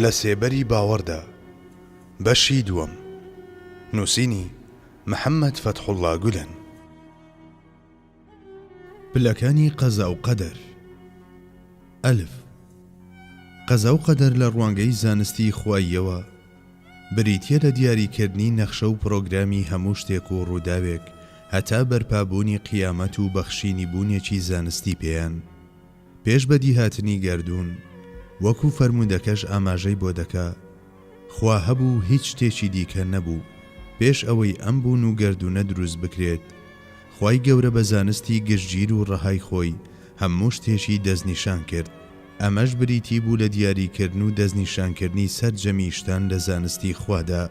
لە سێبەری باوەڕدا، بەشی دووەم، نووسینی، محەممەد فەتحوڵڵا گولەن. پلەکانی قەزا و قەدەر ئەلف، قەزا و قەدەر لە ڕوانگەی زانستی خواییەوە، بریتیە لە دیاریکردنی نەخشە و پرۆگرامی هەموو شتێک و ڕووداوێک هەتا بەرپابوونی قیامەت و بەخشینی بوونێکی زانستی پێیان پێش بەدیهاتنی گەردوون، وەکو فەرموودەکەش ئاماژەی بۆ دەکا، خوا هەبوو هیچ شتێکی دیکە نەبوو پێش ئەوەی ئەم بوون و گەردوونە دروست بکرێت، خوای گەورە بە زانستی گشتگیر و ڕەهای خۆی هەموو شتێکی دەستنیشان کرد. ئەمەش بریتی بوو لە دیاریکردن و دەستنیشانکردنی سەرجەمی شتان لە زانستی خوادا.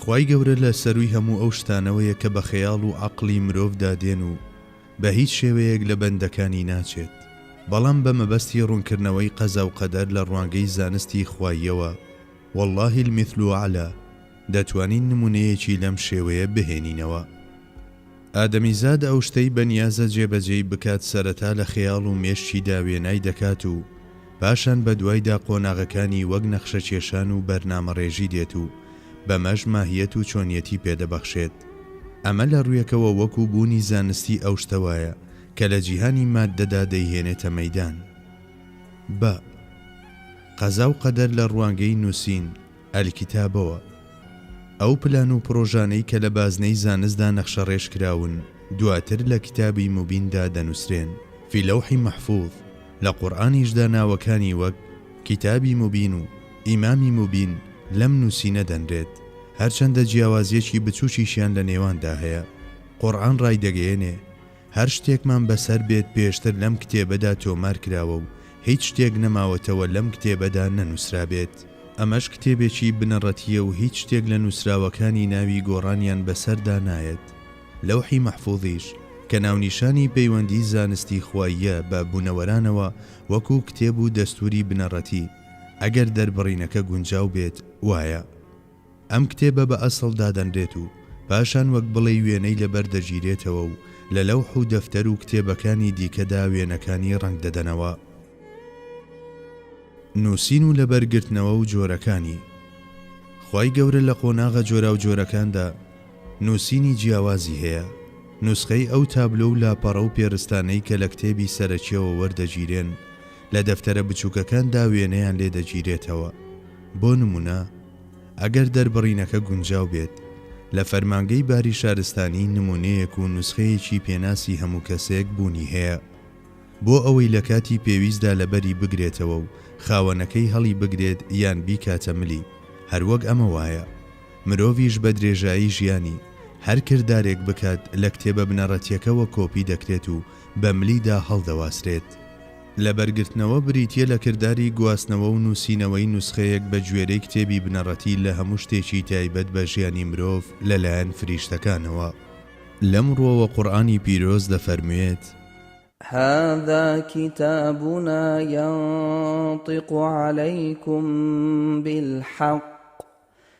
خوای گەورە لە سەرووی هەموو ئەو شتانەوەیە کە بە خەیاڵ و عەقڵی مرۆڤدا دێن و بە هیچ شێوەیەک لە بەندەکانی ناچێت، بەڵام بە مەبەستی ڕوونکردنەوەی قەزا و قەدەر لە ڕوانگەی زانستی خواییەوە، واللە المثل الاعلی، دەتوانین نموونەیەکی لەم شێوەیە بهێنینەوە. ئادەمیزاد ئەو شتەی بە نیازە جێبەجێی بکات سەرەتا لە خەیاڵ و مێشکیدا وێنای دەکات و پاشان بە دوایدا قۆناغەکانی وەک نەخشەکێشان و بەرنامەڕێژی دێت و بەمەش ماهیەت و چۆنیەتی پێ دەبەخشێت. ئەمە لە ڕوویەکەوە وەکوو بوونی زانستی ئەو شتە وایە کە لە جیهانی ماددەدا دەیهێنێتە مەیدان. بە. قەزا و قەدەر لە ڕوانگەی نووسین. الکتابەوە، ئەو پلان و پرۆژانەی کە لە بازنەی زانستدا نەخشەڕێژ کراون، دواتر لە کتابی موبیندا دەنووسرێن، فی اللوح محفوظ، لە قورئانیشدا ناوەکانی وەک، کتابی مبین و، امام مبین، لەم نووسینە دەنرێت، هەرچەندە جیاوازییەکی بچووکیشیان لە نێواندا هەیە. قورئان ڕایدەگەیەنێ. هەر شتێکمان بەسەر بێت پێشتر لەم کتێبەدا تۆمار کراوە و هیچ شتێک نەماوەتەوە لەم کتێبەدا نەنووسرابێت. ئەمەش کتێبێکی بنەڕەتییە و هیچ شتێک لە نووسراوەکانی ناوی گۆڕانیان بەسەردا نایەت. لەوحی مەحفوزیش کە ناونیشانی پەیوەندیی زانستی خواییە بە بوونەوەرانەوە وەکوو کتێب و دەستووری بنەڕەتی، ئەگەر دەربڕینەکە گونجاو بێت، وایە. ئەم کتێبە بە ئەسڵ دادەنرێت و پاشان وەک بڵێی وێنەی لەبەر دەگیرێتەوە و لە لەوح و دەفتەر و کتێبەکانی دیکەدا وێنەکانی ڕەنگ دەدەنەوە. نووسین و لەبەر گرتنەوە و جۆرەکانی خوای گەورە لە قۆناغە جۆراوجۆرەکاندا نووسینی جیاوازی هەیە، نوسخەی ئەو تابلۆ و لاپەڕە و پێرستانەی کە لە کتێبی سەرەکییەوە وەردەگیرێن لە دەفتەرە بچووکەکاندا وێنەیان لێ دەگیرێتەوە، بۆ نموونە، ئەگەر دەربڕینەکە گونجاو بێت، لە فەرمانگەی باری شارستانی نموونەیەک و نوسخەیەکی پێناسی هەموو کەسێک بوونی هەیە بۆ ئەوەی لە کاتی پێویستدا لەبەری بگرێتەوە و خاوەنەکەی هەڵیبگرێت یان بیکاتە ملی، هەروەک ئەمە وایە مرۆڤیش بە درێژایی ژیانی هەر کردارێک بکات لە کتێبە بنەڕەتیەکەوە کۆپی دەکرێت و بە ملیدا هەڵدەواسرێت. لەبەرگرتنەوە بریتییە لە کرداری گواستنەوە و نووسینەوەی نوسخەیەک بەگوێرەی کتێبی بنەڕەتی لە هەموو شتێکی تایبەت بە ژیانی مرۆڤ لەلایەن فریشتەکانەوە. لەم ڕووەوە قورئانی پیرۆز دەفەرموێت. هذا کتابنا ینطق علیکم بالحق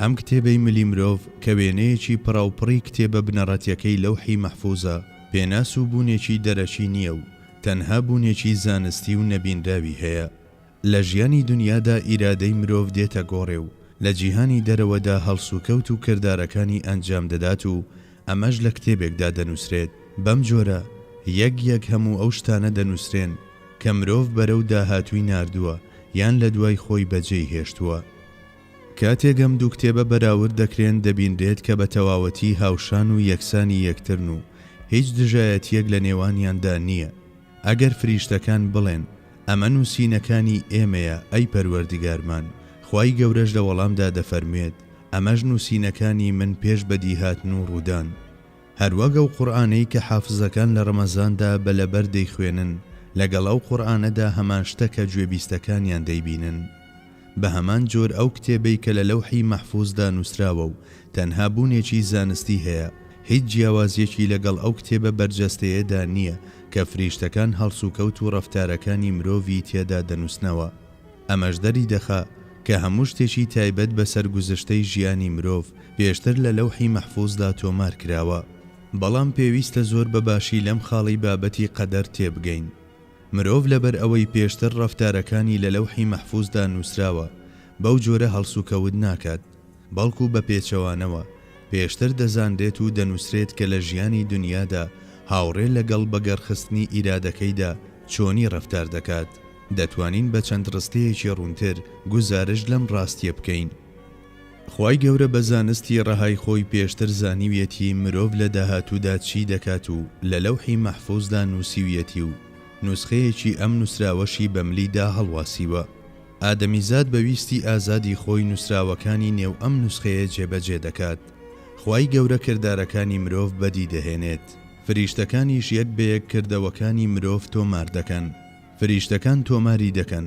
ئەم کتێبەی ملی مرۆڤ کە وێنەیەکی پڕاوپڕی کتێبە بنەڕەتیەکەی لەوحی مەحفوزە، پێناس و بوونێکی دەرەکی نییە و تەنها بوونێکی زانستی و نەبینراوی هەیە. لە ژیانی دونیادا ئیرادەی مرۆڤ دێتە گۆڕێ و لە جیهانی دەرەوەدا هەڵسوکەوت و کردارەکانی ئەنجام دەدات و ئەمەش لە کتێبێکدا دەنووسرێت. بەم جۆرە یەک یەک هەموو ئەو شتانە دەنووسرێن کە مرۆڤ بەرەو داهاتووی ناردووە یان لە دوای خۆی بەجێی هێشتووە. کاتێک ئەم دوو کتێبە بەراورد دەکرێن دەبینرێت کە بە تەواوەتی هاوشان و یەکسانی یەکترن و هیچ دژایەتییەک لە نێوانیاندا نییە، ئەگەر فریشتەکان بڵێن، ئەمە نووسینەکانی ئێمەیە، ئەی پەروەردگارمان، خوای گەورەش لە وەڵامدا دەفەرموێت، ئەمەش نووسینەکانی من پێش بەدیهاتن و ڕوودان. هەروەک ئەو قورئانەی کە حافزەکان لە ڕەمەزاندا بە لەبەر دەیخوێنن، لەگەڵ ئەو قورئانەدا هەمان شتە کە گوێبیستەکانیان دەیبینن. بە هەمان جۆر ئەو کتێبەی کە لە لەوحی مەحفوزدا نووسراوە و تەنها بوونێکی زانستی هەیە، هیچ جیاوازییەکی لەگەڵ ئەو کتێبە بەرجەستەیەدا نییە کە فریشتەکان هەڵسوکەوت و ڕەفتارەکانی مرۆڤی تێدا دەنووسنەوە. ئەمەش دەریدەخا کە هەموو شتێکی تایبەت بە سەرگوزشتەی ژیانی مرۆڤ پێشتر لە لەوحی مەحفوزدا تۆمار کراوە. بەڵام پێویستە زۆر بە باشی لەم خاڵی بابەتی قەدەر تێبگەین. مرۆڤ لەبەر ئەوەی پێشتر ڕەفتارەکانی لە لەوحی مەحفوزدا نووسراوە بەو جۆرە هەڵسوکەوت ناکات، بەڵکو بە پێچەوانەوە پێشتر دەزانرێت و دەنووسرێت کە لە ژیانی دونیادا هاوڕێ لەگەڵ بەگەڕخستنی ئیرادەکەیدا چۆنی ڕەفتار دەکات. دەتوانین بە چەند ڕستەیەکی ڕوونتر گوزارشت لەم ڕاستییە بکەین. خوای گەورە بە زانستی ڕەهای خۆی پێشتر زانیویەتی مرۆڤ لە داهاتوودا چی دەکات و لە لەوحی مەحفوزدا نووسیویەتی و نوسخەیەکی ئەم نووسراوەشی بە ملی دا هەڵواسیوە. ئادەمیزاد بە ویستی ئازادی خۆی نووسراوەکانی نێو ئەم نوسخەیە جێبەجێ دەکات. خوای گەورە کردارەکانی مرۆڤ بەدی دەهێنێت. فریشتەکانیش یەک بە یەک کردەوەکانی مرۆڤ تۆمار دەکەن. فریشتەکان تۆماری دەکەن.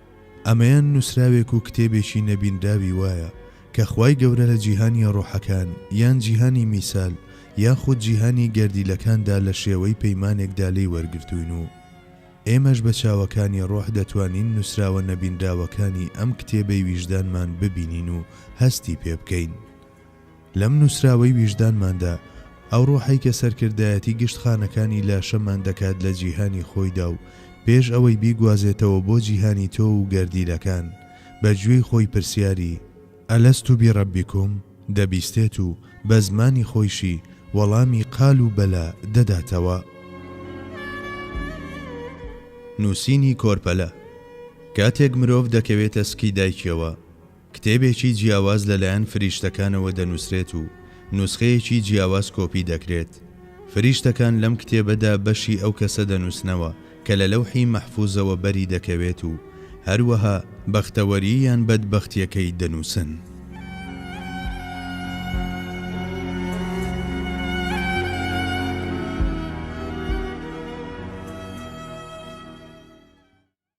ئەمەیان نوسراوێک و کتێبێکی نەبینراوی وایە کە خوای گەورە لە جیهانی ڕۆحەکان یان جیهانی میسال یاخود جیهانی گەردیلەکاندا لە شێوەی پەیمانێکدا لێی وەرگرتووین و ئێمەش بە چاوەکانی ڕۆح دەتوانین نوسراوە نەبینراوەکانی ئەم کتێبەی ویژدانمان ببینین و هەستی پێبکەین لەم نووسراوەی ویژدانماندا، ئەو ڕۆحەی کە سەرکردایەتی گشت خانەکانی لاشەمان دەکات لە جیهانی خۆیدا و پێش ئەوەی بیگوازێتەوە بۆ جیهانی تۆو و گەردیلەکان، بە گوێی خۆی پرسیاری، الست بربکم، دەبیستێت و بە زمانی خۆیشی وەڵامی، قالوا بلی، دەداتەوە. نووسینی کۆرپەلە، کاتێک مرۆڤ دەکەوێتە سکی دایکیەوە، کتێبێکی جیاواز لەلایەن فریشتەکانەوە دەنووسرێت و نوسخەیەکی جیاواز کۆپی دەکرێت. فریشتەکان لەم کتێبەدا بەشی ئەو کەسە دەنووسنەوە کە لە لەوحی مەحفوزەوە بەری دەکەوێت و هەروەها بەختەوەری یان بەدبەختییەکەی دەنووسن.